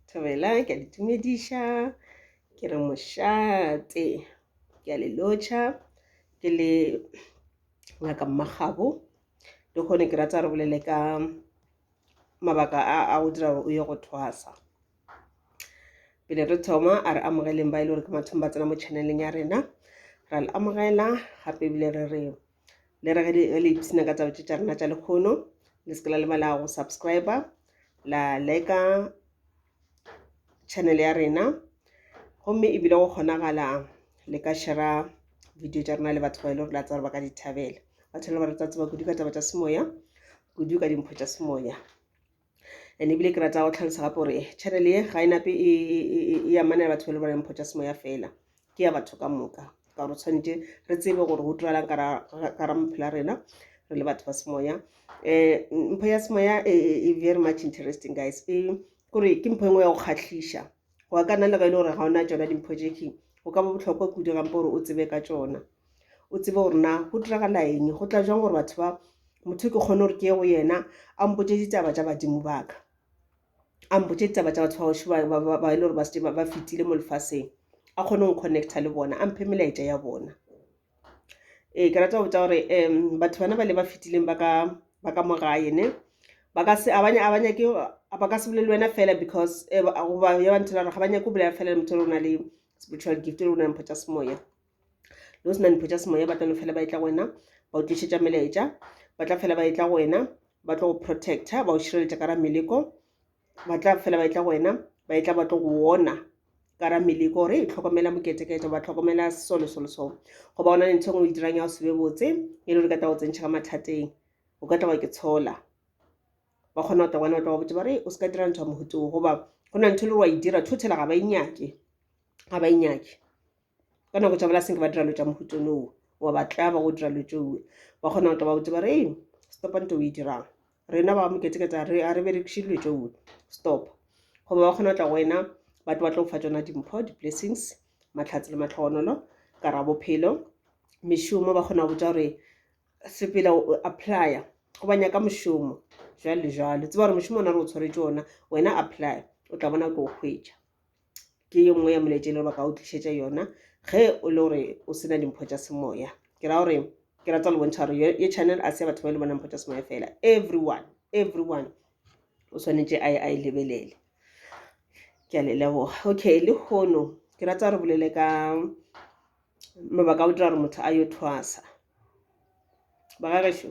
Thobela, ke a le tumediša, ke re mošate, ke a le lotšha, ke le Ngaka Mmakgabo, le kgone ke rata re bolele ka mabaka a a go dira gore o ye go thwasa. Pele re thoma a re amogeleng ba e le gore ke mathomo ba tsena mo channel-eng ya rena, ra le amogela gape ebile re re. le re ge le ipsina ka taba tše tša rena tša lekgono le se ke la lebala go subscribe la leka channel ya rena gomme ebile go kgonagala le ka shera video tša rena le batho ba e le gore la tsa gore ba ka di thabela batho le ba re tsa tseba kudu ka taba tša semoya kudu ka dimpho tša semoya and ebile ke rata go tlhalosa gape gore channel ye ga e nape e, e, e, e amanela batho ba le baneng photsa semoya fela ke ya batho ka moka ka gore tshwanetse re tsebe gore go tiralang kara mophela rena re le batho ba semoya um mpho ya semoya e, e, e very much interesting guys e kore ke mpho engwe ya go kgatlhiša wa ka nna le ga e le gore ga ona tsona dimpho jeking go ka ba botlhokwa kudu gampe gore o tsebe ka tsona o tsebe gore na go diragala eng go tla jwang gore batho ba motho ke kgone gore ke ye go yena a mpotse ditaba tsa badimo baka a mpotse ditaba tsa batho ba oši ba e le gore ba fetile mo lefaseng a kgone go connecta le bona a mphe melaetša ya bona Ee, ke rata go botsa gore um batho bana bale ba fetileng ba ka ba ka mo gae ne ba ka se abanye abanye ke ba ka se bolele wena fela because eh, ba- goba ya ba nthela gore ga ba nyake go bolela fela le motho o na le spiritual gift o na le mpho tša semoya lo sena mpho tša semoya ba tla no fela ba etla go wena ba o tlišetša melaetša ba tla fela ba etla go wena ba tlo go protector ba o šireletša ka ra meleko ba tla fela ba etla go wena ba etla ba tlo go wona ka ra meleko gore e tlhokomela moketekete ba tlhokomela solo solo so go ba ona le ntho e ngwe e dirang ya go sebe botse e le gore ka tla go tsentšha ka mathateng o ka tlawa ke tshola ba kgona go tla gona ba tla go botse ba re o se ka dira ntho ya mohuto goba go na ntho e le gore wa e dira thothela ga ba inyake e ga ba inyake e ka nako tša bona senke ba dira lo tša mohutone o wa ba tlaba go dira lo tšeo ba kgona go toba botse ba re eng stopa nto o e dirang rena ba moketeketa re a re berekiše dilo tšeo stop goba ba kgona go tla go wena ba tlo ba tlo go fa tsona dimpho di-blessings matlhatsi le matlhogonolo ka ra bophelo mešomo ba kgona go botsa gore sepela o applya go ba nyaka mošomo jalo le jalo tseba gore mošomo ona re o tshwaretse ona wena apply o tla bona o tlo o hwetša ke ye nngwe ya molaetša e le gore ba ka o tlišetša yona ge o le gore o sena dimpho tša semoya ke ra gore ke rata le bontšha gore ye channel a se ya batho ba e le bona mpho tša semoya fela everyone everyone o swanetše a e lebelele ke a le leboga okay le kgono ke rata re bolele ka mabaka a o dira gore motho a yo thwasa ba ga gešo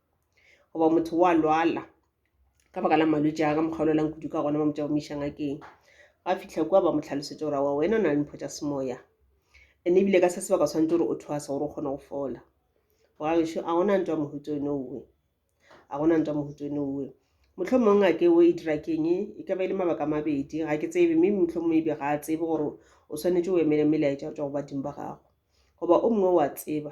goba motho wa lwala ka baka la malwetši a ka mokgwa o lwelang kudu ka gona ba mo tšaomiša ngakeng ga fitlha kua ba mo tlhalosetša gore wa wena o na le mpho tša semoya ene ebile ka se sebaka tshwanetse gore o thwasa gore o kgone go fola bogagešo a gona ntwa mohuto one owe a gona ntwa mohuto one owe motlho mongwe ngake o e dira keng e ka ba e le mabaka mabedi ga ke tsebe mme motlho mongwe ebe ga a tsebe gore o swanetše o emele melaetša go tswa go badimo ba gago goba o mongwe wa tseba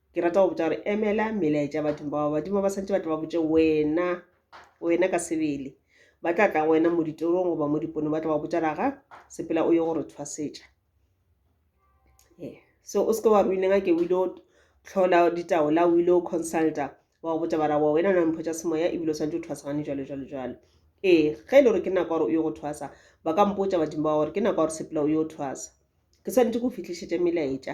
ke rata go botša gore emela melaetša ya bathong bao badimo ba santse ba tla ba botše wena wena ka sebele ba tla tla wena mo ditorong goba mo dipone ba tla ba botša raga sepela o ye gore thwasetša ee so o seke wa ruineng a ke o ile o tlhola ditaola o ile o consulta wa go botša bara wa wena na mpho tša semoya ebile o santse o thwasagane jalo jalo jalo ee ge e le gore ke nako ya gore o ye go thwasa ba ka mpotsa badimo ba gore ke nako ya gore sepela o yo thwasa ke swanetse go fitlhišetša melaetša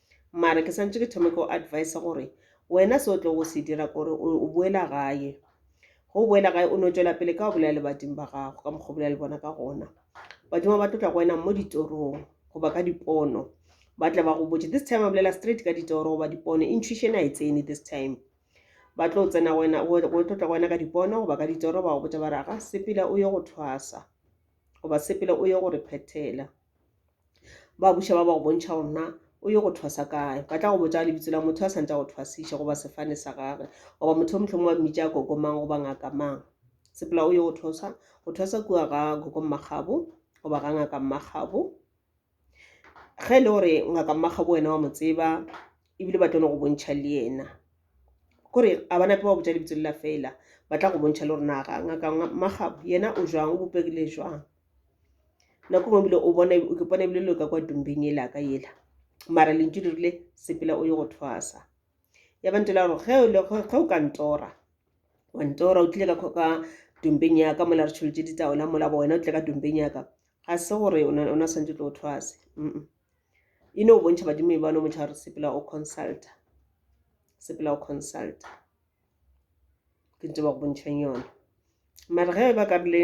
Mara ke santše ke thome ko advice gore wena se o tlo go se dira kore o boela gae go boela gae o no tšwela pele ka go bolela le badimo ba gago ka mokgwa bolela le bona ka gona badimo ba tlotla go wena mo ditorong goba ka dipono ba tla ba go botse this time a bolela straight ka ditoro goba dipono intuition a e tsene this time ba tlo tsena wena go tlotla go wena ka dipono goba ka ditoro ba go botsa ba re ga sepela o ye go thwasa goba sepela o ye go re phethela ba buša ba ba go bontšha gore na o ye go thwasa kae ba tla go botsa lebitso la motho a santse go thwasiša goba sefane sa gage goba motho o motlhong wa mmitša a koko mang goba ngaka mang sepela o ye go thwasa go thwasa kua ga koko mmagabo goba ga ngaka mmagabo ge e le gore ngaka mmagabo wena wa mo tseba ebile ba tlono go bontšha le yena kore a ba nape ba botsa lebitso lela fela ba tla go bontšha le gore naga ngaka mmagabo yena o jwang o bopegile jwang nako ngwe bile o bona o ke pone bile lo ka kwa tumbeng e laka yela mara lentšu le rile sepela o ye go thwasa ya ba ntela gore ge o le ge o ka ntora wa ntora o tlile ka ka tumbeng ya ka mola re tsholotše ditaola mola bo wena o tle ka tumbeng ya ka ga se gore o na santse tlo o thwase e no o bontšha badimo e bano motšha gore sepela o consulta sepela o consulta ke ntse ba go bontšhang yone mare ge ba ka rile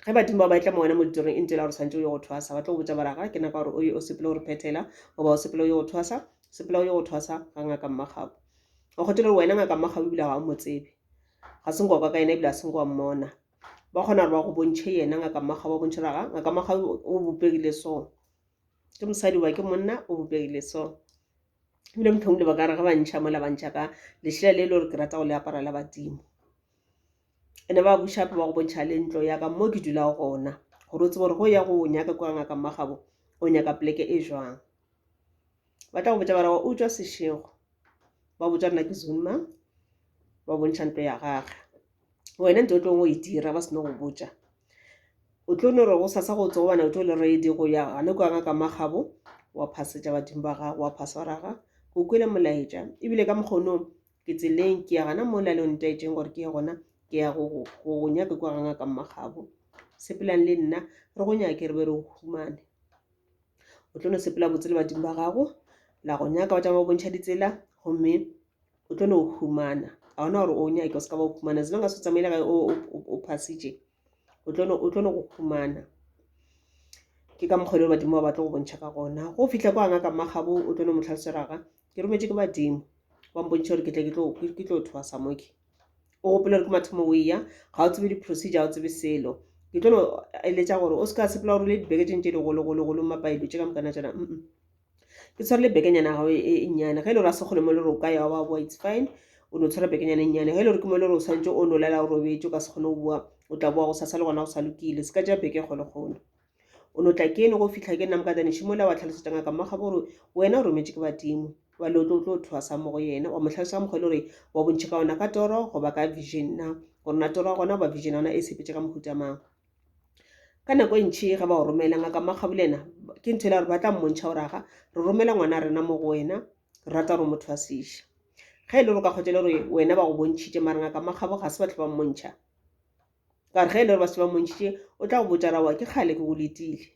ge badimo ba ba etla mo wena mo ditorong e ntse la gore santse o ye go thwasa ba tlo go botsa bara ga ke naka gore o ye o sepele gore phethela goba o sepele o ye go thwasa sepela o ye go thwasa ga ngaka mmagabu o kgothe le gore wena ngaka mmagabu ebile ga o mo tsebe ga se nkoka ka yena ebile a se nko wa mmona ba kgona gore ba go bontšhe yena ngaka mmagabu ba bontšhe gore ga ngaka mmagabu o bopegile so ke mosadi wa ke monna o bopegile so ebile mothong le ba kare ga ba ntšha mola ba ntšha ka lešela le e le gore ke rata go le apara la badimo ene ba bušape ba go bontšha le ntlo ya ka mo ke dulago gona gore o tsebe gore go ya go nyaka kwa ngaka mmagabo o nyaka poleke e jwang ba tla go botsa bara wa o tswa sešego ba botsa rena ke zunma ba bontšha ntlo ya gage wena nto o tlong o e dira ba seno go botša o tlo no re go sasa go tsogo bana o tlo le reedi go ya gane kwa ngaka magabo wa phasetša badimo ba gago wa phaswaraga go kwele molaetša ebile ka mokgonong ke tseleng ke ya gana mo la le o ntaetseng gore ke ye gona ke ya go go nyake kwa ga ngaka magabo sepelang le nna re go nyake re be re o humane o tlo no sepela botse le badimo ba gago la go nyaka ba tšama ba bontšha ditsela gomme o tlo no humana a ona gore o nyake o se ka ba o humana as long as o tsamaile gae o phasitše o tlo no go humana ke ka mokgwa le badimo ba batlo go bontšha ka gona go fitlha kwa ngaka magabo o tlo no mo tlhaloseraga ke rometswe ke badimo ba mpontšha gore ke tle ke tlo thwasa moke o gopela gore ke mathomo o eya ga o tsebe di-procedure ga o tsebe selo ke tlo no eletša gore o se ka sepela gore o le dibeke tšeng tše digologologolo mapaelo tše ka mokana tšona mm ke tshwere le bekenyana gago e, e, e nnyane ge e le gore a sekgole mo le gore o ka yawa wa boa it's fine o no tshwere bekenyana e nnyane ge e le gore ke mo e le gore o tshwanetse o no lela o robetse o ka se kgone go bua o tla boa go sasa le gona o sa lokile se ka ja beke kgole kgolo o no tla kene go fitlha ke nna mokatane šimola wa tlhalosetsa ngaka mmakgabo gore wena o rometse ke badimo wa le o tlo tlo thwasa mo go yena wa mo tlhalosa mokgwa e le gore wa bontšhe ka ona ka toro goba ka vision na gore na toro ya gona goba vision ya ona e sepetse ka mohutamang ka nako e ntšhi ge ba o romela ngaka makgabolena ke ntho e le gore ba tla mmontšha gore aga re romela ngwana rena mo go wena re rata gore motho a seiša ge e le gore ka kgotse le gore wena ba go bontšhitše mare ngaka makgabo ga se batlho ba mmontšha ka gore ge e le gore ba se ba mmontšhitše o tla go botša rawa ke kgale ke go letile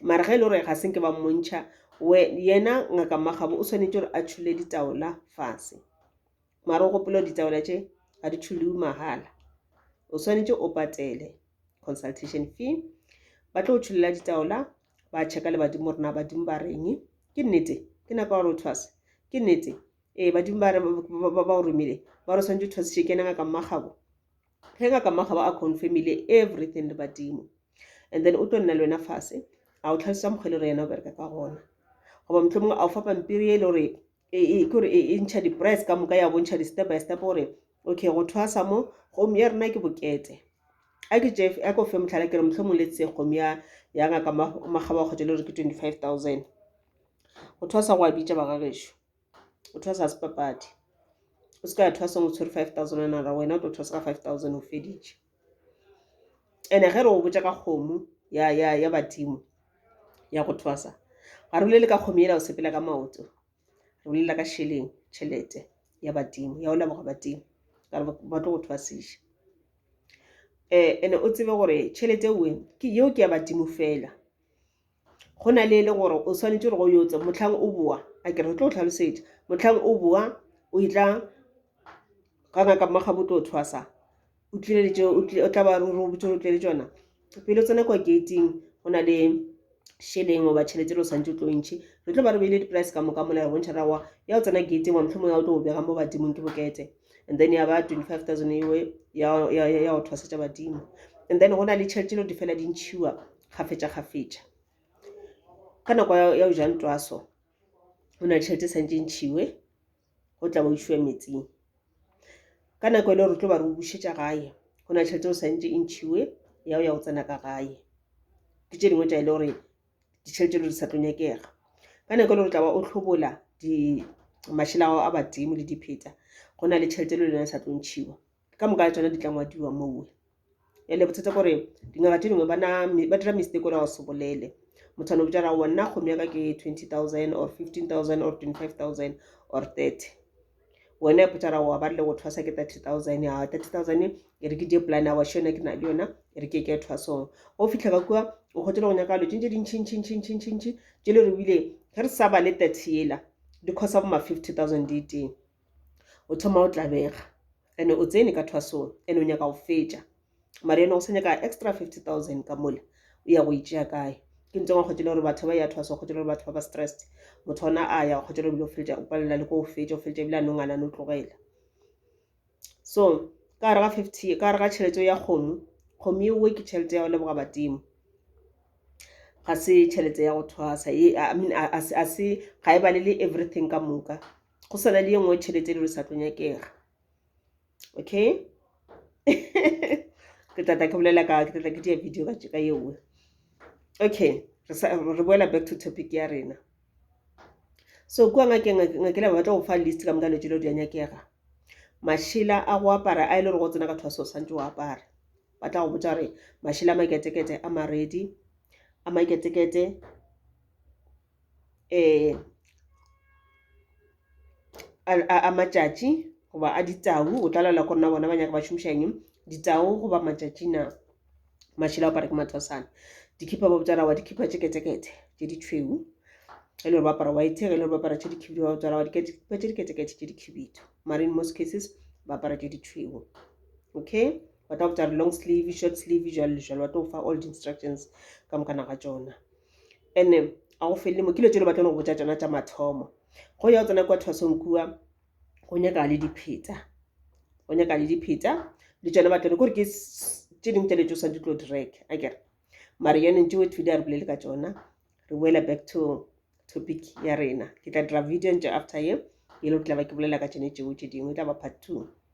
mare ge e le gore ga senke ba mmontšha yena ngaka makgabo o swanetše gore a tšhule ditaola fase mara o gopole gore ditaola tše ga di thulwe mahala o swanetše o patele consultation fee ba tlo tšhulela ditaola ba checka le badimo rena badimo ba reng ke nnete ke nako gore o thwase ke nnete ee badimo ba ba o romile ba re swanetse o thwasitše ke nanga ka mmagabo ge ngaka mmagabo a confirmile everything le badimo and then o tlo nna le wena fase a o tlhalosetsa mokgwa e le gore yena o bereka ka gona goba motlho mongwe a o fa pampiri e le gore e, e, ke gore e, e ntšha di-price ka moka ya bontšha di-step by step gore okay go thwasa mo gomme ya rena ke bokete a ke tše a ko fe motlhala ke re motlho mong letse gomme ya ya ngaka magaba kgotsa le gore ke twenty five thousand go thwasa go a bitša bagagešo o thwasa se papadi o se ka ya thwasang o tshwere five thousand naira wena o tlo thwasa ka five thousand o feditše ene ge re go botša ka kgomo ya ya ya badimo ya go thwasa ga re bolele ka kgomo ela o sepela ka maoto re bolela ka šeleng tšhelete ya badimo ya o leboga badimo ka re ba tlo go thwasiša um ene o tsebe gore tšhelete eo ke yeo ke ya badimo fela go na le e le gore o swanetše gore go yotse motlhang o boa a ke re tlo tlhalosetša motlhang o boa o e tla ga ngaka mmaga bo tlo thwasa o tlileletše o tla ba ruri o botse o tlele tsona pele o tsena kwa gating go na le šeleng goba tšhelete le o santse o tlo ntšhi re tlo ba re beile di-price ka moka mola re bontšha rawa ya o tsena gating wa motlhomo ya o tlo o bega mo badimong ke bokete and then ya ba 25000 ewe ya ya ya go tshwasetsa badimo and then go na le tšhelete lo di fela di ntshiwa gafetša gafetša ka nako ya o ja ntwaso go na le tšhelete santse ntshiwe go tla ba o šiwa metsing ka nako e le gore tlo ba re o bušetša gae go na le tšhelete o santse e ntshiwe ya o ya go tsena ka gae ke tše dingwe tša e le gore ditšheo tše lo di sa tlo nyakega ka nako e le gore tla ba o tlhobola mašela ao a badimo le dipheta go na le tšhelete le lena sa tlo ntšhiwa ka moka le tsona di tla ngwadiwa mowe ele bothata gore dingaka tse dingwe ba dira mistake ore ga o se bolele motho ano botsa ra wa nna kgomo ya ka ke twenty thousand or fifteen thousand or twenty five thousand or thirty wena ipotsa ra wa ba rile go thwasa ke 30000 ya 30000 e re ke die plan ya washo yona ke na le yona e re ke ke thwasong go fitlha ka kua o kgotse le go nyaka lo tšintše dintšhintšhintšhintšhintšhintšhi tše le re bile ge re sa ba le 30 yela di khosa bo ma 50000 di teng o thoma o tlabega ene o tsene ka thwasong ene o nyaka go fetša mara eno go sa nyaka extra 50000 ka mole o ya go itšea kae ke ntse ngwa kgotšele gore batho ba ya thwasa kgotšele gore batho ba ba stressed motho ona a ya kgotšele gore bile o feletša o palela le ko o fetša o feletša ebile a nongana no tlogela so ka gare ga 50 ka gare ga tšhelete ya kgomo kgomo eo ke tšhelete ya go leboga badimo ga se tšhelete ya go thwasa e i mean a se ga e balele everything ka moka go sana le ye nngwe tšhelete e le re sa tlo nyakega okay ke tla tla ke bolela ka ke tla tla ke dia video ka tšeka ye nngwe okay re boela back to topic ya rena so kua ngakeng ngakela ba batla go fa list ka moka lotse lo di a nyakega mašela a go apara a e le gore go tsena ka thwaso o santse o apara ba tla go botsa gore mašela a maketekete a maredi a maketekete um a matšatši goba a ditau o tla laela gore na bona ba nyaka ba šomiša eng ditau goba matšatši na mašela apara ke mathwasana dikhipa ba botsa rawa dikhipa tše ketekete tše di tšhweu e le gore ba apara white ge e le gore ba apara tše dikhibidu ba botsa rawa dikhipa tše diketekete tše dikhibidu mare in most cases ba apara tše di tšhweu okay ba tla botsa re long sleeve short sleeve jalo le jalo ba tlo fa all di-instructions ka mokana ga tsona and-e ga go felele mo ke dilo tse le batlang go botsa tsona tsa mathomo go ya go tsena kwa thwasong kua go nyaka le dipheta go nyaka le dipheta le tsone batlone kore ke tse dingwe tse le tsosa di tlo drag a kere mare yaneng tsewe today a re bolele ka tsona re boela back to topic ya rena ke tla dira video ntle after ye e le go tla ba ke bolela ka tsone tseo tse dingwe e tla ba part two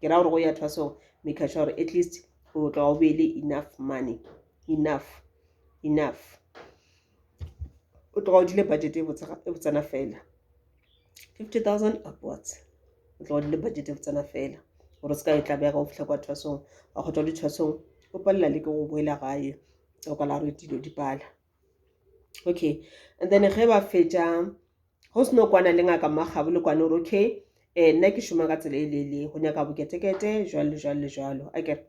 ke ra gore go ya thwa so maker sure gore at least o tla o be le enough money enough enough o tloga o dile budget e botsana fela fifty thousand upwards o tloga o dile budget e botsana fela gore se ka e tlabega o fitlha kwa thwasong wa kgotla o dithwasong o palela le ke go boela gae o ka la re dilo di pala okay and then ge ba fetša go seno kwana le ngaka mmakgabo le kwane ore okay um nna ke šoma ka tsela e leele go nyaka boketekete jwalo le jwalo le jwalo a kere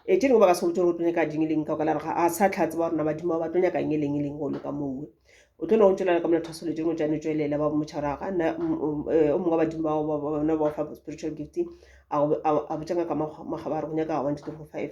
e tšene go ba ka se go tšore o tlo nyaka ding e leng ka ka la gore a sa tlhatse ba gorena badimo ba tlo nyaka eng e leng e leng go loka moo o tlo no go tšwelela ka mona thasolo tšeno tšane tšwelela ba motšharaga nna o mongwe wa badimo bao bona ba fa spiritual gifting a botša ngaka magabare go nyaka one two three four five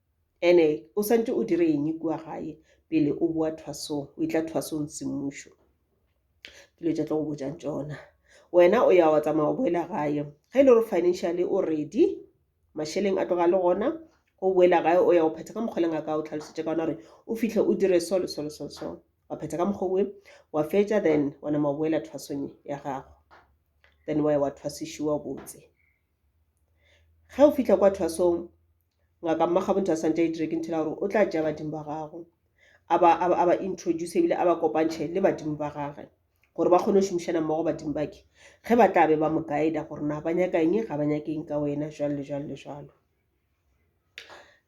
Ene o santše o dire eng kua gae pele o boa thwasong, o etla thwasong semmušo? Ke dilo tša tlo go botšang tšona. Wena o ya wa tsamaya o boela gae. Ge e le gore financially o ready, mašeleng a tloga le gona, o boela gae o ya o phetha ka mokgwa leng a ka o tlhalosetša ka ona gore o fihle o dire so le so le so le so. Wa phetha ka mokgwa oe, wa fetša then wa nama o boela thwasong ya gago. Then wa ya wa thwasišiwa botse. Ge o fihla kwa thwasong, Ngaka Mmakgabontle a santše a itire ke nthela gore o tla tšea badimo ba gago a ba, a ba, a ba introduce ebile a ba kopantšhe le badimo ba gage gore ba kgone go šomišana mmogo badimo bake ge ba tla be ba mo guide-a gore na ba nyaka eng, ga ba nyake eng ka wena, jwalo le jwalo le jwalo.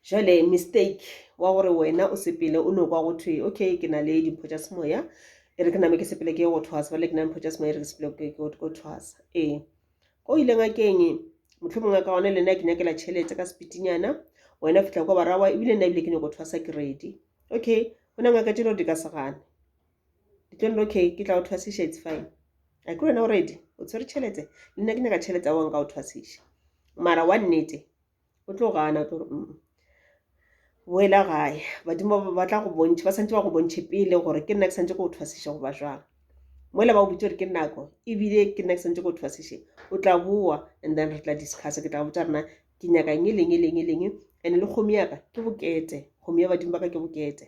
Jwale mistake wa gore wena o sepele o no kwa go thwe okay ke na le dimpho tša semoya e re ke name ke sepele ke ye go thwasa ba le ke na mpho tša semoya e re ke sepele ke go thwasa ee ko ile ngakeng motlho mongwe ka gona le nna ke nyakela tšhelete ka sepitinyana wena fitlha kwa barawa ebile nna ebile ke nyako thwasa ke ready okay go na ngaka tšelo di ka segane Ditlollo, Okay, ke tla o thwasiša, it's fine. A ke wena o ready? O tshwere tšhelete? Le nna ke nyaka tšhelete, aowa nka o thwasiša. Mara wa nnete, o tlo gana, o tlo re, mm, boela gae. Badimo ba ba tla go bontšha, ba santse ba go bontšhe pele gore ke nna ke santse ke go thwasiša goba jwang. Mola ba o botse gore ke nako, ebile ke nna ke santse ke go thwasiše. O tla boa, and then re tla discussa, ke tla botsa rena ke nyaka eng, e leng, e leng, e leng. And-e le kgomo ya ka, ke bokete. Kgomo ya badimo ba ka ke bokete.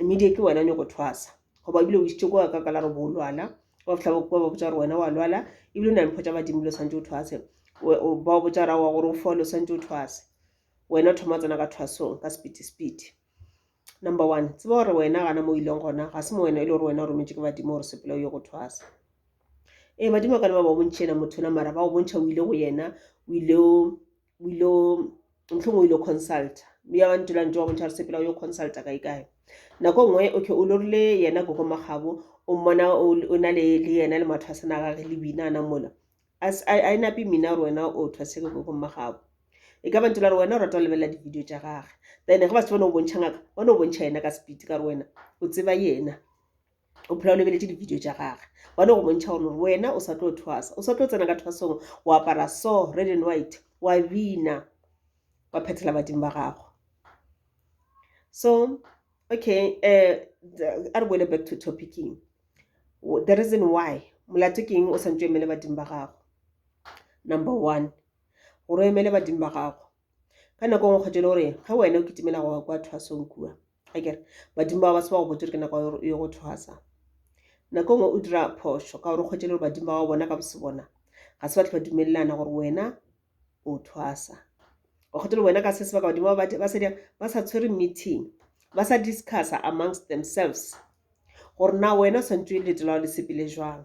media ke wena nyoko thwasa goba ebile o isitse ko ka ka la re boolwana wa fitlha ba ba botsa gore wena wa lwala ebile o na le mpho tsa badimo dilo tshwanetse o thwase ba o botsa rawa gore o fole o tshwanetse o thwase wena o thoma o tsena ka thwasong ka sepiti sepiti number one tseba gore wena gana mo o ileng gona ga se mo wena e le gore wena o rometse ke badimo gore sepela o ye go thwasa ee badimo ka le ba ba bontšhena motho na mara ba o bontšha o ile go yena o ile o o ilo mohlong o ilo consulta mme ya bantula ntse wa bontšha gore sepela o yo consulta kae kae nako nngwe o ke o lorile yena koko magabo o mmona o na le yena le matho a sena gage le bina ana mola a e nape mmina gore wena o thwaseke koko magabo e ka bantula gore wena o rata go lebelela di-video tša gage then ge ba se bone o bontšha ngaka bone o bontšha yena ka speed ka gore wena o tseba yena o phela o lebeletše di-video tša gage ba no go bontšha gore lore wena o sa tlo thwasa o sa tlo tsena ka thwasong o apara so red and white wa bina wa phethela badimo ba gago so okay um a re boele back to topicing the reason why molato ke eng o santse emele badimo ba gago number one gore o emele badimo ba gago ka nako e nngwe kgetho e le gore ge wena o kitimela go kwa thwasong kua ga kere badimo ba ba se ba go botse gore ke nako ya gore o ye go thwasa nako e nngwe o dira phošo ka gore o kgwetse le gore badimo ba wa bona ka bose bona ga se batho ba dumelelana gore wena o thwasa o kgwetse le wena ka se sebaka badimo ba ba sa ba sa tshwere meeting ba sa discussa amongst themselves gore na wena o swantse o letela wa le sepele jwang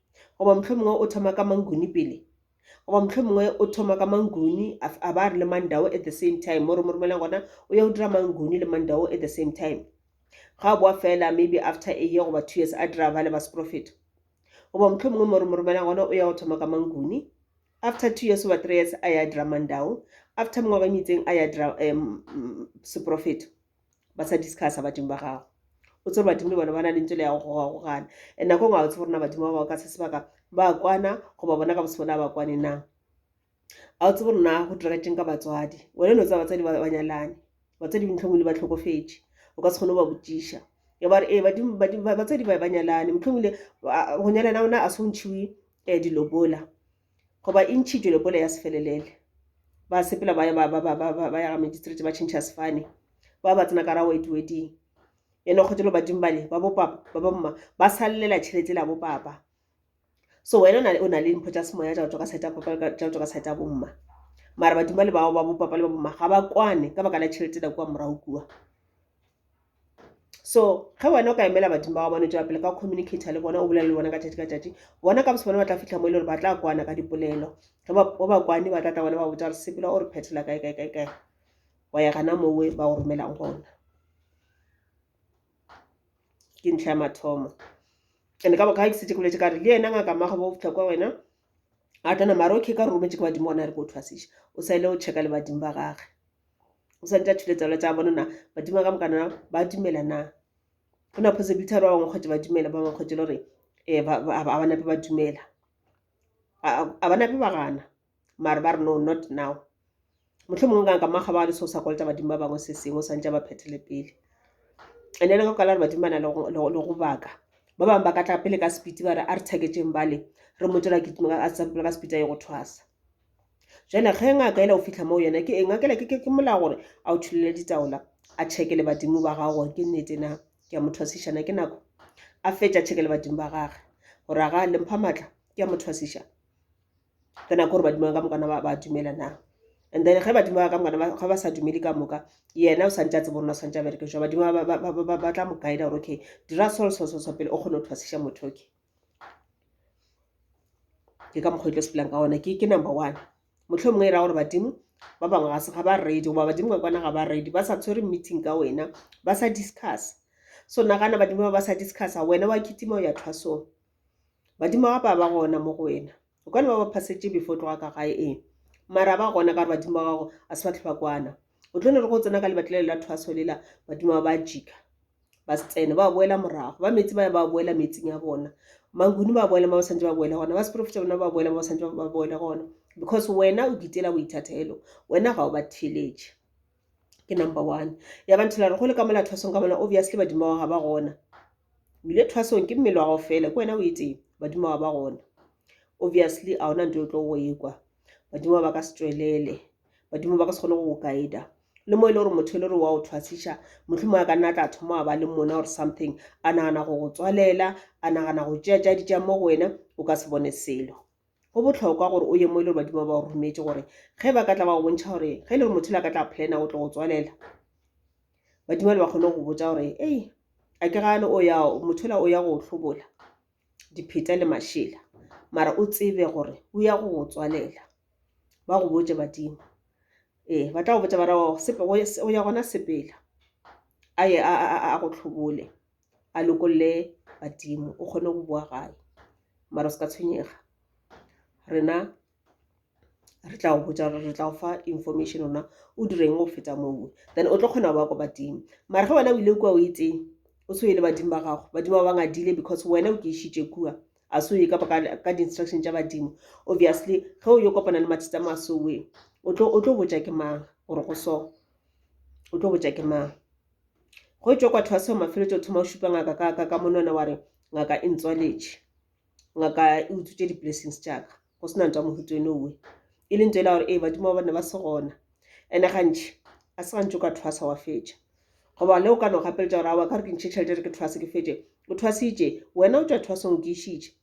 Goba mohlomongwe o thoma ka Manguni pele. Goba mohlomongwe o thoma ka Manguni a ba re le Mandau at the same time mo re mo romelang gona o ya o dira Manguni le Mandau at the same time. Ga a boa fela maybe after a year goba two years a dira ba le ba seprofeto. Goba mohlomongwe mo re mo romelang gona o ya o thoma ka Manguni after two years goba three years a ya dira Mandau after mengwaga e metseng a ya dira um, seprofeto. ba sa discussa badimo ba gago o tsere badimo le bona ba na le ntse le ya go gogagogana and nako ngwe ga o tsebo rena badimo ba bao ka se sebaka ba kwana goba bona ka bosebo le a ba kwane na ga o tsebo rena go diregeteng ka batswadi one no tsa batswadi ba nyalane batswadi bontlhongwe le ba tlhokofetse o ka se kgone go ba botsiša ya bare ee batswadi ba ba nyalane motlhongwe le go nyalana ona a se o ntšhiwe um dilobola goba e ntšhitšwe lepole ya sefelelele ba sepela ba ya ga magistrate ba tšhentšha sefane ba ba tsena ka ra wetweding ene kgotelo badimo bale ba bopapa ba bamma ba salelela tšhelete la bopapa so wena o na le mpho tša semoya tša go tswa ka saeta papa tša go tswa ka saeta bomma mara badimo le bao ba bopapa le ba bomma ga ba kwane ka baka la tšhelete la kua morago kua so ge wena o ka emela badimo ba gabone tšwela pele ka communicator le bona o bolela le bona ka tšatši ka tšatši bona ka bose bona ba tla fitlha mo e le gore ba tla kwana ka dipolelo ge ba bakwane ba tla tla bona ba botsa gore sepela o re phethela kae kae kae kae wa ya gana mowe ba go romelang gona ke ntlha ya mathomo and ka boka ga ke setse ke boletse ka re le ena ngaka mmago bo fitlha kwa wena a tla nama re okay ka re rometse ke badimo ona re ko thwasiša o sa ile o checka le badimo ba gage o swanetše a thule tsalo tsa bona na badimo ka mokana ba dumela na go na phose bitharo ba bangwe kgwetse ba dumela ba bangwe kgwetse le gore um ga ba nape ba dumela ga ba nape ba gana mare ba re no not now motlho mongwe ka ka makga ba le seo sa kolota badimo ba bangwe se sengwe o swantse ba phethele pele and ele ka kala re badimo ba na le go baka ba bangwe ba ka tla pele ka sepiti ba re a re tsheketseng bale re mo tswela ke ka sepiti a ye go thwasa jale ge ngaka ela o fitlha moo yona ke eng ngakela ke ke molao gore a o thulele ditaola a chekele badimo ba gago gore ke nnete na ke a motho wa sešana ke nako a fetša chekele badimo ba gage gore a ga le mpha maatla ke a motho wa sešana ke nako gore badimo ka mokana ba dumela na and then ge badimo ba ka mokana ga ba sa dumele ka moka yena o santse a tse borona o santse a bereke jwa badimo ba tla mo guida gore okay dira solo solo solo pele o kgone go thwasesha motho okay ke ka mokgwa e tlo sepelang ka gona ke number one motlho mongwe e ra gore badimo ba bangwe ga se ga ba ready goba badimo ka kwana ga ba ready ba sa tshwere meeting ka wena ba sa discuss so nagana badimo ba ba sa discussa wena wa kitima o ya thwasong badimo ga ba ba gona mo go wena o ka ne ba ba phasetše before tloga ka gae ee mara ba gona ka re badimo ba gago a se ba tlhoba kwana o tlo ne re go tsena ka lebatlelelo la thwaso lela badimo ba ba jika ba se tsene ba boela morago ba metsi ba ya ba boela metsing ya bona manguni ba boela ba ba santse ba boela gona ba seporofeta bona ba boela ba ba santse ba boela gona because wena o ditela boithatelo wena ga o ba theletše ke number one ya ba nthela re go le ka mola thwasong ka mola obviously badimo wa ga ba gona o ile thwasong ke mmele wa gago fela ke wena o etseng badimo wa ba gona obviously a ona nto e tlo go ekwa badimo ba ka se tswelele badimo ba ka se kgone go go guida le mo e le gore motho e le gore wa o thwasiša motlho mo a ka nna tla thoma wa ba le mona or something a nagana go go tswalela a nagana go tšeatšaditša mo go wena o ka se bone selo go bohlokwa gore o ye mo e le gore badimo ba o rometše gore ge ba ka tla ba go bontšha gore ge e le gore motho la ka tla plana o tlo go tswalela badimo le ba kgone go botsa gore ei a ke gane o ya motho la o ya go hlobola dipheta le mašela mara o tsebe gore o ya go go tswalela ba go botse badimo ee ba tla go botsa bara o ya gona sepela a ye a go tlhobole a lokolle badimo o kgone go boa gae mara se ka tshwenyega rena re tla go botsa gore re tla go fa information ona o direng go feta moo then o tlo kgona go ba ko badimo mara ge wena o ile kua o etse o tshweye le badimo ba gago badimo ba bangadile because wena o ke išitše kua a se o ye kapa ka di-instruction tša badimo obviously ge o yo kopana le mathata a masowe o tlo botja ke mang gore go so o tlo botja ke mang Go etšwa kwa tlhase go mafeletša o thoma go šupa ngaka ka ka ka monwana wa re ngaka e ntswaletše ngaka e utswitše di-blessings tša ka go sena ntwa mohuto eno owe e leng tsela gore ee badimo ba bane ba se gona ene gantši a se gantši o ka thwasa wa fetša goba le o ka no gapeletša gore awa ka gore ke ntšhe tšhelete re ke thwase ke fetše o thwasitše wena o tšwa thwasong o ke išitše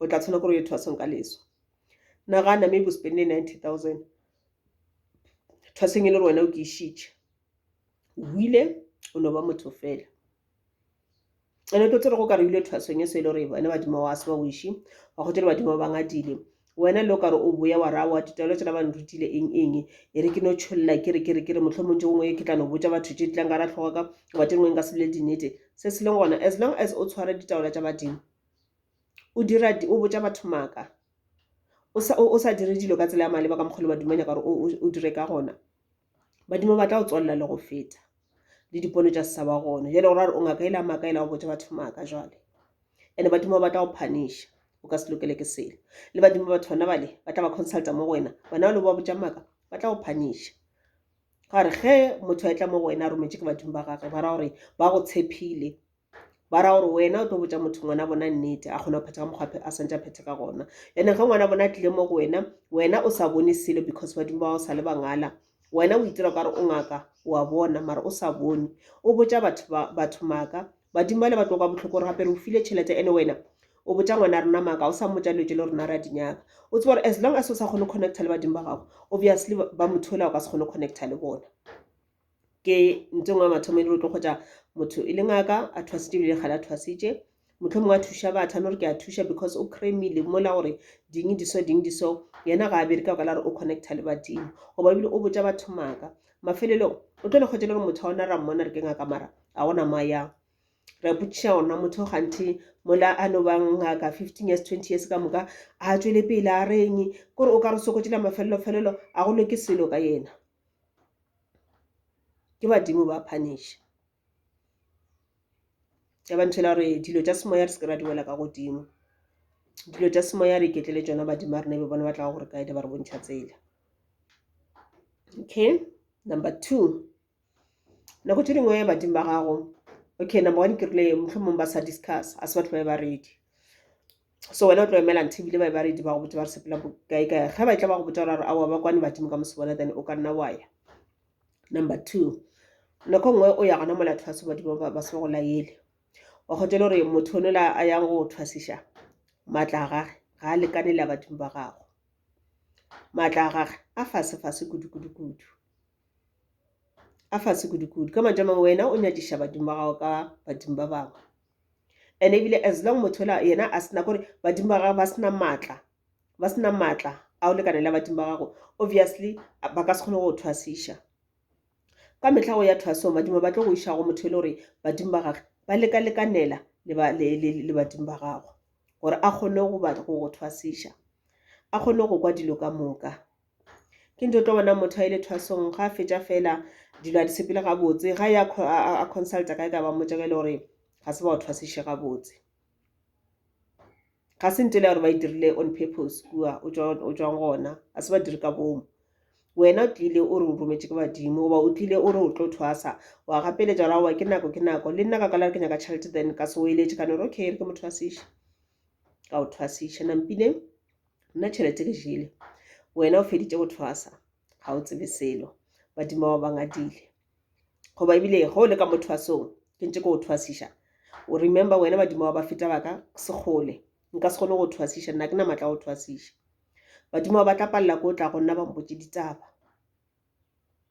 o tla tshwana kore o ye thwasong ka leswa nagana maybe o spende ninety thousand thwasong e le gore wena o ke išitše o ile o no ba motho fela ene o tlo tsere go ka re ile thwasong e se e le gore wena badimo wa se ba wiše wa go tere badimo ba bangadile wena le o kare o boya wa raya wa ditaelo tsela ba nrutile eng eng e re ke no tšholela ke re ke re ke re motlho montse gongwe ke tla no botsa batho tse tlang ka ra tlhoga ka wa tengweng ka sebile dinete se se leng gona as long as o tshware ditaola tsa badimo o dira o botša batho maaka o sa dire dilo ka tsela ya maleba ka mokgwa le badimo ba nyaka gore o dire ka gona. Badimo ba tla o tswalela le go feta le dipono tša se sa ba gona jwale gore a re o ngaka ela maaka ela o botša batho maaka jwale. And-e badimo ba tla go punish-a o ka se lokele ke selo le badimo ba batho bona bale ba tla ba consult-a mo go wena bona bale o ba botša maaka ba tla go punish-a. Gare ge motho a etla mo go wena a rometšwe ke badimo ba gagwe ba ra gore ba go tshepile. ba ra gore wena o tlo botsa motho ngwana bona nnete a kgona go phetha ka mokgwa a santse a phethe ka gona ene ge ngwana bona a tlile mo go wena wena o sa bone selo because badimo ba o sa le bangala wena o itira kare o ngaka wa bona mara o sa bone o botsa batho batho maka badimo ba le ba tloka botlhoko gore gape re o file tšhelete ene wena o botsa ngwana rona maka o sa mmotsa dilo tse le rona ra dinyaka o tseba gore as long as o sa kgone connecta le badimo ba gago obviously ba motho ola o ka se kgone connecta le bona ke ntho engwe ya mathomo e le gore tlo kgotsa motho e le ngaka a thwasitše ebile kgale a thwasitše motlho mongwe a thuša batho a no re ke a thuša because o cremile mola gore ding di so ding di so yena ga a bere ka baka la gore o connecta le badimo goba ebile o botsa batho maaka mafelelong o tlo le kgotse le gore motho a ona ra mmona re ke ngaka mara a gona mo a yang re a potšiša gorena motho ganthe mola a no bang ngaka fifteen years twenty years ka moka a tswele pele a reng kore o ka re sokotšela mafelelo felelo a go loke selo ka yena ke badimo ba phaneša ya ba ntšhela gore dilo tša semoya re se ke ra di wela ka godimo dilo tša semoya re iketlele tšona badimo ba rena e be bona ba tlago gore kae di ba re bontšha tsela okay number two nako tše dingwe badimo ba gago okay number one ke rile mohlomong ba sa discuss a se batho ba e baredi so wena o tlo emela nthe ebile ba ba redi ba go botse ba re sepela kae kae ge ba tla ba go botsa gore aowa ba kwane badimo ka mosebona then o ka nna wa ya number two nako nngwe o ya gona mola thwase badimo ba se ba go laele wa kgotsa le gore motho one la a yang go thwasiša maatla a gage ga a lekane le a badimo ba gago maatla a gage a fase fase kudu kudu kudu a fase kudu kudu ka mantša mangwe wena o nyadiša badimo ba gago ka badimo ba bangwe and ebile as long motho ola yena a sena kore badimo ba gagwe ba sena maatla ba sena maatla a o lekane la badimo ba gago obviously ba ka se kgone go thwasiša ka metlha go ya thwasong badimo ba tlo go iša go motho e le gore badimo ba gage ba lekalekanela le badimo ba gago gore a kgone go thwasiša a kgone go kwa dilo ka moka Ke nto tlo bona motho a ile thwasong ga fetša fela dilo a di sepele gabotse ga ya a consulta kae ka ba mmotša ka ile gore ga se ba o thwasiše gabotse ga se ntele ya gore ba e dirile on purpose kua o tswang gona ga se ba dire ka bomo wena o tlile o re o rometše ke badimo goba o tlile o re o tlo thwasa wa gapeletša gore aowa ke nako ke nako le nna ka kwala re ke nyaka tšhelete then ka se o eletše ka no re okay re ke mo thwasiše ka o thwasiše nampine nna tšhelete ke jele wena o feditše go thwasa ga o tsebe selo badimo ba bangadile goba ebile ge o le ka mo thwasong ke ntse ke go thwasiša o remember wena badimo ba ba feta ba ka sekgole nka se kgone go thwasiša nna ke na matla go thwasiša badimo ba tla palela ko o tla go nna ba mpotse ditaba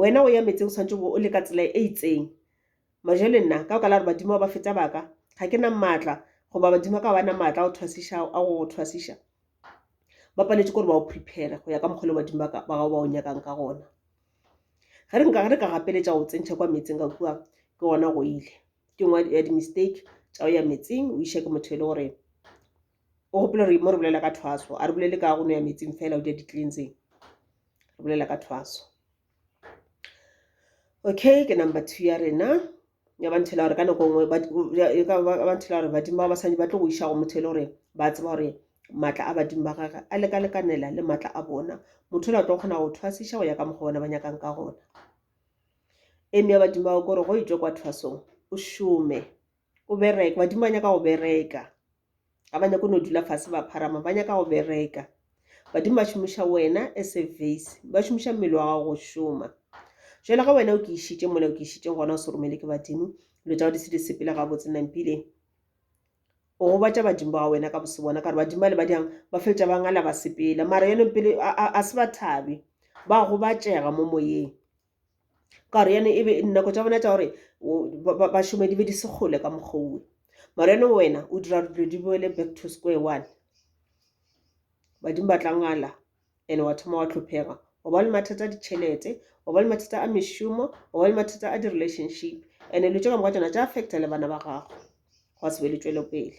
Wena o ya metseng o swanetše o le ka tsela e itseng. Majele nna ka baka la gore badimo ba ba feta ba ka, ga ke na maatla goba badimo ba ka ga ba na maatla a go thwasiša a go go thwasiša. Ba paletše ke gore ba go prepare-re go ya ka mokgwa le badimo ba ka ba gago ba go nyakang ka gona. Ge re nka re ka gapeletša go tsentšha kwa metseng ka kua ke gona go ile ke nngwe ya di-mistake tša go ya metseng o išwa ke motho e le gore o gopela gore mo re bolela ka thwaso a re bolele ka go no ya metsing fela o di ya di-cleanseng re bolela ka thwaso okay ke number two ya rena ya ba nthela gore ka nako nngwe ba nthela gore badimo ba basadi ba tlo go iša go motho e le gore ba tseba gore maatla a badimo ba gage a lekalekanela le maatla a bona motho le a tlo kgona go thwasiša go ya ka mokgwa bona ba nyakang ka gona eme ya badimo bao kore go e tswe kwa thwasong o šome o bereke badimo ba nyaka go bereka ga ba nyako no dula fase ba pharama ba nyaka go bereka badimo ba šomiša wena as a vase ba šomiša mmele wa gago go šoma jalo ga wena o ke išitše mola o ke išitše gona o se romele ke badimo dilo tsa go di se di sepele ga botse nampile o gobatša badimo ba wena ka bose bona ka gore badimo ba le ba diyang ba feletša ba ngala ba sepele mara yone pele a se ba thabe ba gobatšega mo moyeng ka gore yane ebe dinako tša bona tša gore ba šome di be di se kgole ka mokgouwe mara yane wena o dira gore dilo di boele back to square one badimo ba tlangala and wa thoma wa tlhophega wa ba le mathata a ditšhelete wa ba le mathata a mešomo wa ba le mathata a di-relationship and-e lo tse ka moka tsona tša affecta le bana ba gago gwa se be le tswelopele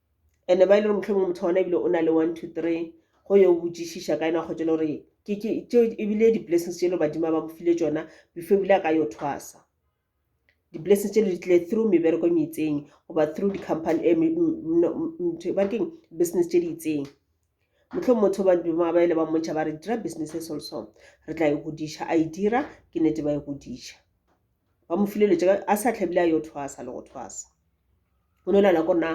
ene ba e le gore motlhomongwe motho ona ebile o na le one two three go yo botšišiša ka ena wa kgotšela gore ke ke tše ebile di-blessings tše le badimo ba mo file tšona before ebile a ka yo thwasa di-blessings tše le di tlile through mebereko e meitseng goba through di-company eh, ba keng business tše di itseng motlho motho ba dimo ba ele ba montšha ba re dira business e solso re tla e godiša a e dira ke nete ba e godiša ba mo fileletse a sa tlhabile a yo thwasa le go thwasa o no nana ko nna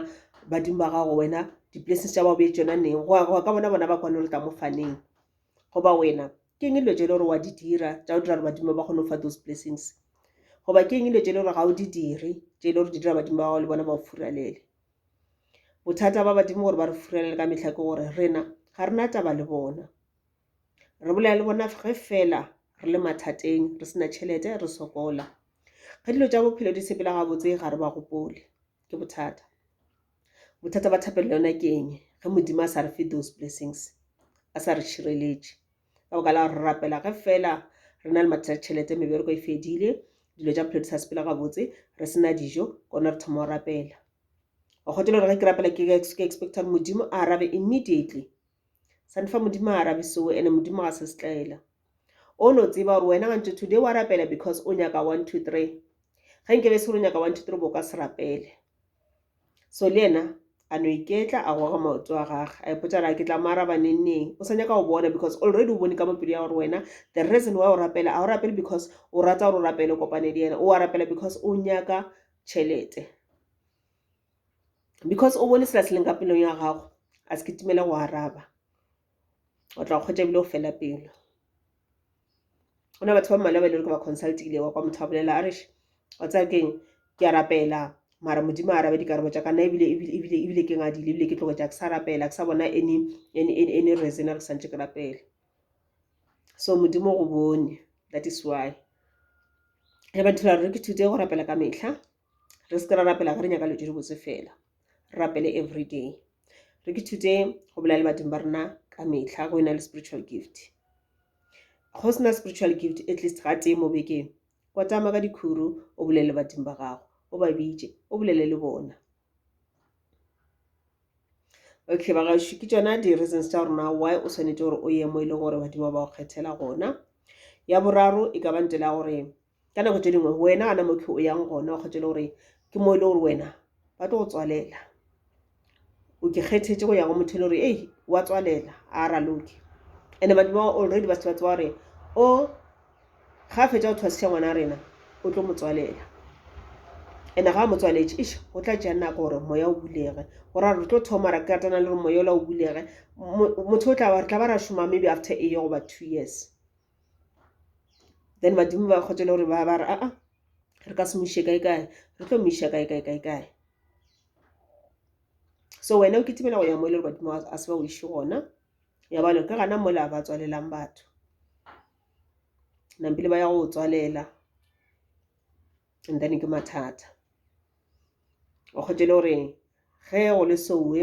badimo ba gago wena di-places tša bao bee tsona neng go ya ka bona bona ba kwane gore tla mo faneng goba wena ke eng e dilo tse e le gore wa di dira tša go dira gore badimo ba kgone go fa those blessings goba ke eng e dilo tse e le gore ga o di dire tše e le gore di dira badimo ba gago le bona ba o furalele bothata ba badimo gore ba re furalele ka metlha ke gore rena ga re na taba le bona Re bolela le bona ge fela re le mathateng, re sena tšhelete, re sokola. Ge dilo tša bophelo di sepela gabotse ga re ba gopole. Ke bothata. Bothata ba thapelo yona ke eng? Ge Modimo a sa re fe those blessings, a sa re šireletše. Ka baka la gore re rapela ge fela re na le mathata tšhelete, mebereko e fedile, dilo tša bophelo di sa sepela gabotse, re sena dijo, kone re thoma go rapela. Wa kgotela gore ge ke rapela ke expecta gore Modimo a arabe immediately. sa ndi fa modimo a arabe seo ene modimo ga se setlaela o no tseba gore wena gantse today wa rapela because o nyaka one two three ge nke be se gore o nyaka one two three bo ka se rapele so le ena a no iketla a goga maoto a gage a ipotsa ra ke tla mo araba nengneng o sa nyaka go bona because already o bone ka mopelo ya gore wena the reason why o rapela a o rapele because o rata gore o rapele kopane le yena o a rapela because o nyaka tšhelete because o bone sela se leng ka pelong ya gago a se kitimele go araba o tla kgwetsa ebile o fela pelo go na batho ba mmalwa ba e le gore ba consultile wa kwa motho a bolela a reš wa tsaya keng ke a rapela mara modimo a arabe dikarabo tsa kana ebile ebile ebile ke ngadile ebile ke tlogo tsa ke sa rapela ke sa bona any any any reason re santse ke rapela so modimo go bone that is why re ba thula re ke thute go rapela ka mehla re se ke ra rapela ge re nyaka dilo tše dibotse fela re rapele everyday re ke thute go bolela le badimo ba rena ka metlha go ena le spiritual gift go sena spiritual gift at least ga tee mo bekeng kwatama ka dikhuru o bolele le badimo ba gago o ba bitše o bolele le bona okay bagašo ke tsona di-reasons tša rona why o tshwanetse gore o ye mo e leng gore badimo ba go kgethela gona ya boraro e ka ba ntela gore ka nako tše dingwe wena gana motho o yang gona o kgethele gore ke mo e le gore wena ba tlo go tswalela o ke kgethetse go ya go motho e le gore ei wa tswalela a raloke and batho ba already ba se ba tseba gore o ga a fetsa go thwasiša ngwana rena o tlo motswalela and ga a motswaletse ish go tla tšea nako gore moya o bulege gore re tlo thoma ra katana le gore moya ola o bulege motho o tla ba re tla ba ra šoma maybe after a year goba two years then badimo ba kgotse le gore ba ba re aa re ka se mo ise kae kae re tlo mo isa kae kae kae kae so wena o kitimela go ya mo e le gore badimo a se ba o ise gona ya balo ke gana mola ba tswalelang batho nampile ba ya go tswalela and then ke mathata o kgotse le gore ge go le sowe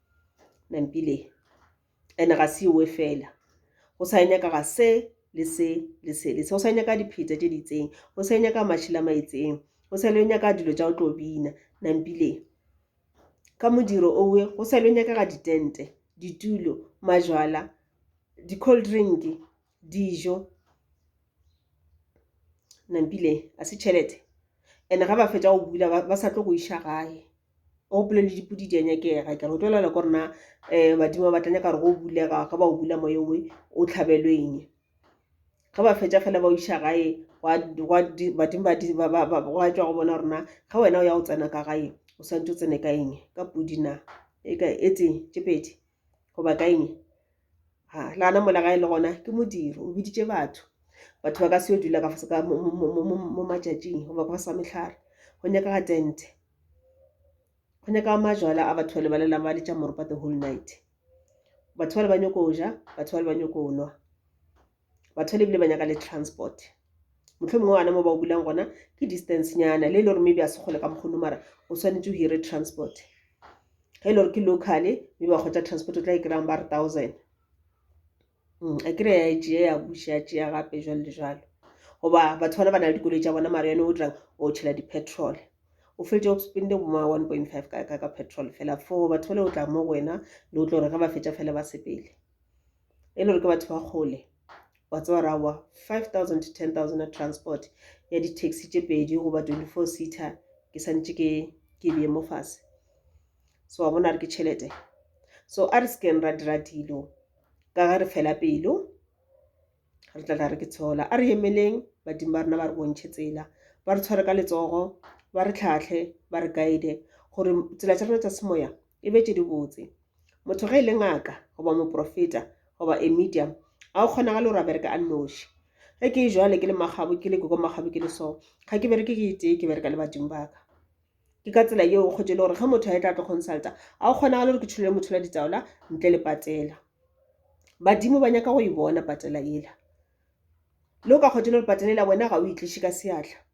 nampile ene ga se owe fela go sa nyaka ga se le se le se le se go sa nyaka dipheta tse di itseng go sa nyaka mašhila ma itseng go sa le nyaka dilo tsa go tlo bina nampile ka modiro owe go sa le nyaka ga ditente ditulo majwala di-cold drink dijo nampile a se tšhelete and-e ga ba fetsa go bula ba sa tlo go iša gae o gopole le dipudi di a nyakega kere o tlo lela kore na um badimo ba tla nyaka gore go bulega ga ba o bula moye oe o tlhabelwe eng ga ba fetsa fela ba o iša gae badimo ba tswa go bona gorena ga wena o ya go tsena ka gae o swantse o tsene ka eng ka pudi na e tse tše pedi goba ka eng. Le gona mola gae le gona ke modiro o boditše batho. Batho ba ka se yo dula mo matšatšing goba ka fase ga mehlare go nyakega tente. Go nyakega majwala a batho bale ba lelang ba le tša moropa the whole night. Batho bale ba nyoko ja, batho bale ba nyoko nwa. batho le bile ba nyaka le transport motlho mongwe wana mo ba o bulang gona ke distance nyana le e le gore maybe a se kgole ka mokgono mara o tshwanetse o hire transport ge e le gore ke local mme ba kgotsa transport o tla e kry-ang ba re thousand mm, a kry ya tea ya buša ya tea gape jalo le jalo goba batho bana ba na le dikoloi tša bona mara yone o dirang o tšhela di-petrol o fetse o spende boma one point five ka petrol fela for batho ba le o tla mo go wena le o tlo gore ge ba fetša fela ba sepele e le gore ke batho ba kgole wa tseba ra wa five thousand to ten thousand ya transport ya di-taxi tše pedi goba twenty-four seater ke santše ke ke beye mo fase so wa bona re ke tšhelete so a re sekeng ra dira dilo ka ge re fela pelo re tla tla re ke tshola a re emeleng badimo ba rena ba re bontšhe tsela ba re tshware ka letsogo ba re tlhatlhe ba re guide gore tsela tsa rena tsa semoya e be tše di botse motho ge e le ngaka goba moprofeta goba a medium ga o kgonagale gore a bereka a nnoši ge ke e jwale ke le magabo ke le koko magabo ke le so ga ke bereke ke itee ke bereka le badimo baka ke ka tsela yeo kgotse e le gore ge motho a e tla tlo consulta ga o kgonagale gore ke tshulele motho la ditaola ntle le patela badimo ba nyaka go e bona patela ela le o ka kgotse e le gore patela ela wena ga o itliše ka seatla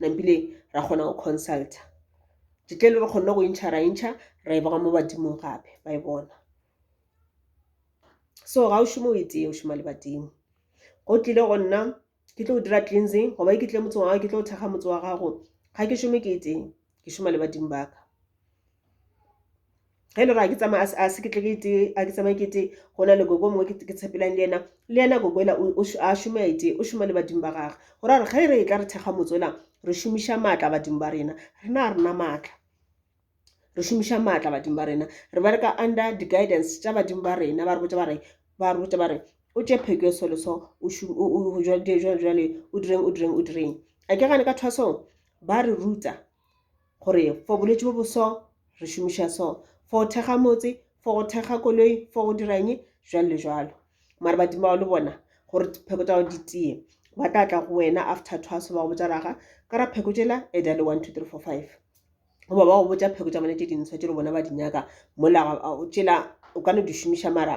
nampile ra kgona go consulta ditle le re kgonne go intšha ra intšha ra e boga mo badimong gape ba e bona so ga o šome o e tee o šoma le badimo go tlile go nna ke tlo go dira cleansing goba e ke tle motse wa gago ke tlo go thekga motse wa gago ga ke šome ke e tee ke šoma le badimo ba ka ge le ra ke tsamaya a se ke tle ke tee a ke tsamaye ke tee go na le gogo mongwe ke tshepelang le yena le yena gogo ela a šome a etee o šoma le badimo ba gage go ra gore ge re e tla re thekga motse ola re šomiša maatla badimo ba rena rena a rena maatla re šomiša maatla badimo ba rena re bereka under the guidance tša badimo ba rena ba re botsa ba re ba re botsa ba re o tše pheko so le so o jwale o direng o direng o direng a ke gane ka thwasong ba re ruta gore for bolwetši bo boso re šomiša so for go thekga motse for go thekga koloi for go dira eng jwalo le jwalo mara badimo bao le bona gore pheko tsa gago di tiye ba tla tla go wena after thwaso ba go botsa raga ka ra pheko tšela e dale one two three four five goba ba go botsa pheko tsa bone tše dintsho tše le bona ba di nyaka mola tšela o ka no di šomiša mara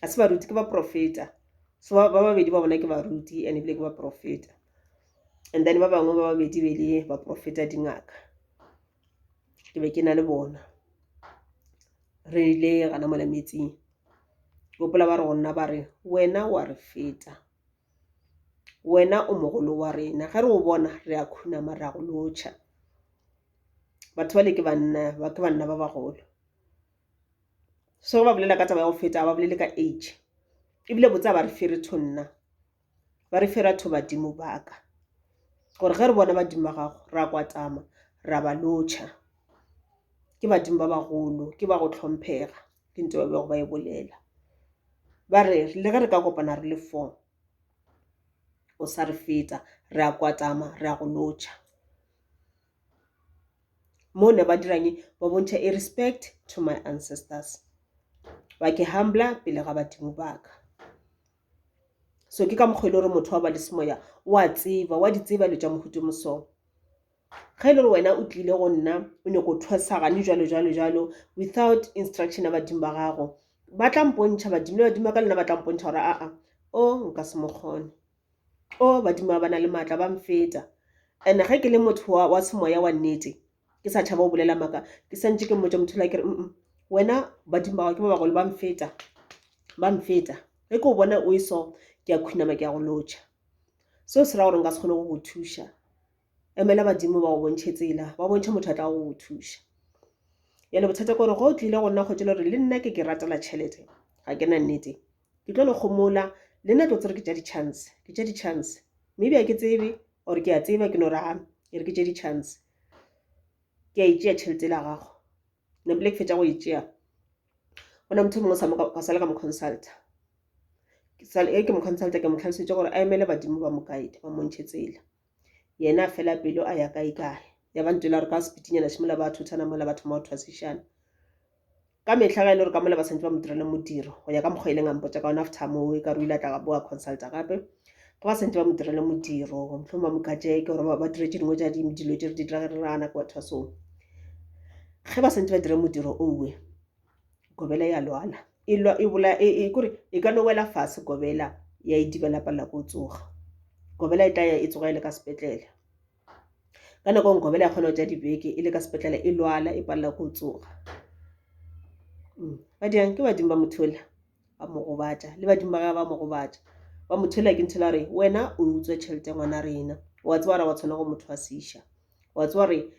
ga se baruti ke baprofeta so ba babedi ba bona ke baruti and ebile ke baprofeta and then ba bangwe ba babedi be le baprofeta dingaka ke be ke na le bona re ile gana mola metsing gopola ba re go nna ba re wena wa re feta wena o mogolo wa rena ge re o bona re a khunama re a go lotšha batho ba le ke banna ba ke banna ba bagolo so ge ba bolela ka taba ya go feta ga ba bolele ka age ebile botse a ba re fere tho nna ba re fera tho badimo baka gore ge re bona badimo ba gago ra kwatama ra ba lotšha ke badimo ba bagolo ke ba go tlhomphega ke ntse ba bego ba e bolela ba re le ge re ka kopana re le four o sa re feta re a kwatama re a go lotšha Mo ne ba dirang eng? Ba bontšha e respect to my ancestors. Ba ke humbler pele ga badimo ba ka. So ke ka mokgwa e le gore motho wa ba le semoya o a tseba wa di tseba dilo tša mohuta mo so. Ge e le gore wena o tlile go nna o nyako thwasa gane jwalo jwalo jwalo without instruction ya badimo ba gago ba tla mpontšha badimo le badimo ba ka le nna ba tla mpontšha gore aa o nka se mo kgone. Oh, badimo ba ba na le maatla ba mfeta. And ge ke le motho wa, wa semoya wa nnete, ke sa tšhaba go bolela maaka, ke santše ke mmotša motho yola ke re, mm, mm wena badimo ba gago ke ba bagolo ba mfeta, ba mfeta. Ge ke o bona o e so, ke a khunama ke a go lotšha. Seo se ra gore nka se kgone go go thuša. Emela badimo ba go bontšhe tsela, ba bontšhe motho a tla go go thuša. Yale bothata ke gore ge o tlile go nna kgotšele gore le nna ke ke ratela tšhelete, ga ke na nnete. Ke tlo le kgomola, le nna tlo tsere ke tša di-chance, ke tša di-chance. Maybe a ke tsebe, or ke a tseba ke no raga, ke re ke tše di-chance. Ke a itšea tšhelete la gago. Ne pele ke fetša go itšea, go na motho mongwe sa mo ka sale ka mo consulta. Ke sale ke mo consulta, ke mo tlhalosetša gore a emele badimo ba mo guide, ba mo ntšhe tsela. yena a fela pelo a ya kae kae ya ba ntela gore ka sepitinyana šimola ba thothana mola ba thoma go thwasišana ka mehla ga e le gore ka mola ba santse ba mo direla modiro go ya ka mokgwa e leng a mpotsa ka ona after moo e ka re o ile a tla ka boa consulta gape ga ba santse ba mo direla modiro motlhong ba mo kajeke gore ba dire tše dingwe tša dilo tše re di dira ge re rana ke bathwasong ge ba santse ba dire modiro owe gobela ya lwala e, e, e, kore e ka no wela fase gobela ya e dibela palela ko tsoga gobela e tla ya e tsoga e le ka sepetlele ka nako ngwe gobela ya kgona go tša dibeke e le ka sepetlele e lwala e palela ko tsoga mm. ba diang ke badimo ba mothola ba mo gobatša le badimo ba ga ba mo gobatša ba mothola ke nthela gore wena o utswa tšhelete ya ngwana rena wa tsebara wa tshwana go motho wa seša wa tseba gore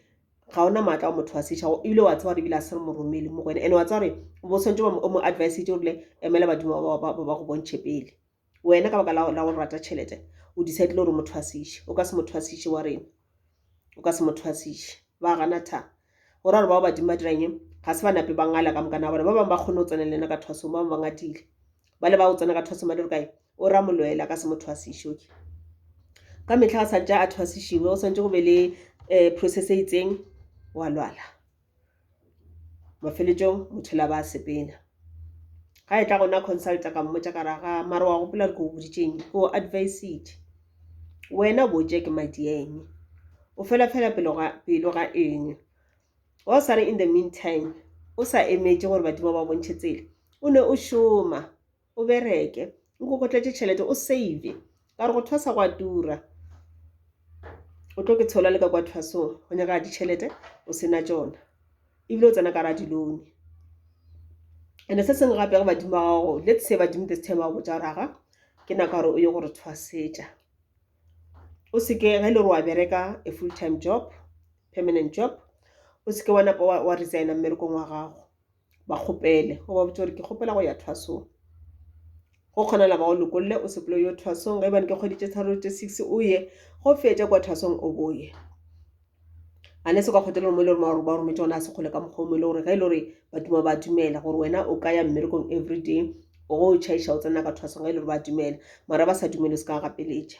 ga ona maatla wa motho wa setšha o ile wa tseba gore ebile a se re moromele mo go ene and-e wa tseba gore bo tshwanetse o mo advisetse o rile emela badimo ba go bontšhe pele wena ka baka la go rata tšhelete o decidile gore motho wa sešhe o ka se motho wa sešhe wa rena o ka se motho wa sešhe ba gana tha go ra gore bao badimo ba dirang eng ga se ba nape ba ngala ka mokana wa bona ba bangwe ba kgone go tsena le ena ka thwasong ba bangwe ba ngadile ba le ba go tsena ka thwasong ba le gore kae O ra molwela ka se mo thwasiše. Okay. Ka mehla a sa tša a thwasišiwe, go swantše go be le um process e itseng, wa lwala. Mafeletšong motho la ba sepena. Ga e tla gona consulta ka mmotša ka ra ga mara wa gopola re ko boditšeng ke o advised. Wena bo tše ke madi eng? O fela fela pelo ga pelo ga eng? Wa sa re in the meantime o sa emetše gore badimo ba bontšhe tsela o ne o šoma. O bereke, o kokotletše tšhelete, o save, ka gore go thwasa go a tura. O tlo ke tshola le ka kwa thwasong, go nyaka ditšhelete, o sena tšona. Ebile o tsena ka ra dilone. And se sengwe gape ge badimo ba gago, let's say badimo this time ba go botsa gore aga, ke nako ya gore o ye gore thwasetša. O seke ge e le gore wa bereka a full time job, permanent job, o seke wa napa wa resigner mmerekong wa gago. ba kgopele go ba botse gore ke kgopela go ya thwasong go kgonala ba go lokolle o sepele yo thwasong ge bane ke kgwedi tše tharo tše six o ye go fetša kwa thwasong o boye a ne se kwa kgotele mo e le gore ba rometse ona a se kgole ka mokgwa mo e le gore ge e le gore ba duma ba dumela gore wena o ka ya mmerekong everyday o go tšhaiša o tsena ka thwasong ge e le gore ba dumela mara ba sa dumele o se ka gapeletša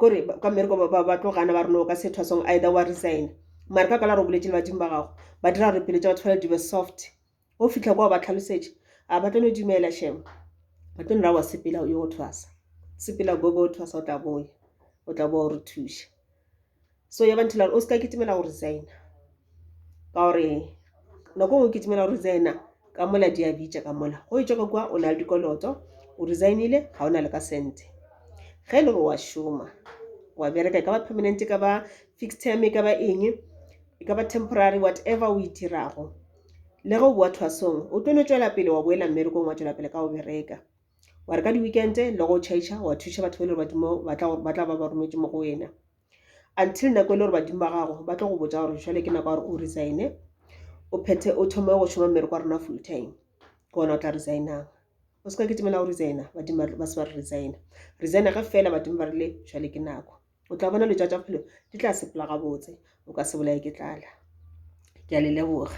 kore ka mmereko ba tlo gana ba re no ka se thwa song either wa resign mare ka kwala re o boletse le badimo ba gago ba dira gore pelo tsa batho fela di be soft o fitlha kwa ba tlhalosetše a ba tlo no dumela shame ba tlo no ra wa sepela yo o thwasa sepela bobo o thwasa o tla boya o tla boa o re thuša. so ya bantho lare o se ka kitimela go resigna ka gore nako ngwe o kitimela go resigna ka mola di a bitša ka mola go e tšwa ka kwa o na le dikoloto o resignile ga o na le ka sente ge e le gore wa šoma wa bereka e ka ba permanent e ka ba fixed term e ka ba eng e ka ba temporary whatever o e dirago le ge o boa thwasong o tlo no tšwela pele wa boela mmerekong wa tšwela pele ka go bereka wa re ka di-weekend le go chaisa wa thuša batho ba e le gore ba tla ba ba rometse mo go wena until nako e le gore badimo ba gago ba tlo go botsa gore jale ke nako ya gore o resign-e o phethe o thome go šoma mmereko wa rona full time ke ona o tla resign-ang o se ka ke timela go resign-a badimo ba se ba re resign-a resign-a ge fela badimo ba rile jale ke nako o tla bona letša tša phelo di tla sepela gabotse o ka se bolaye ke tlala ke a le leboga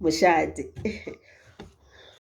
mošate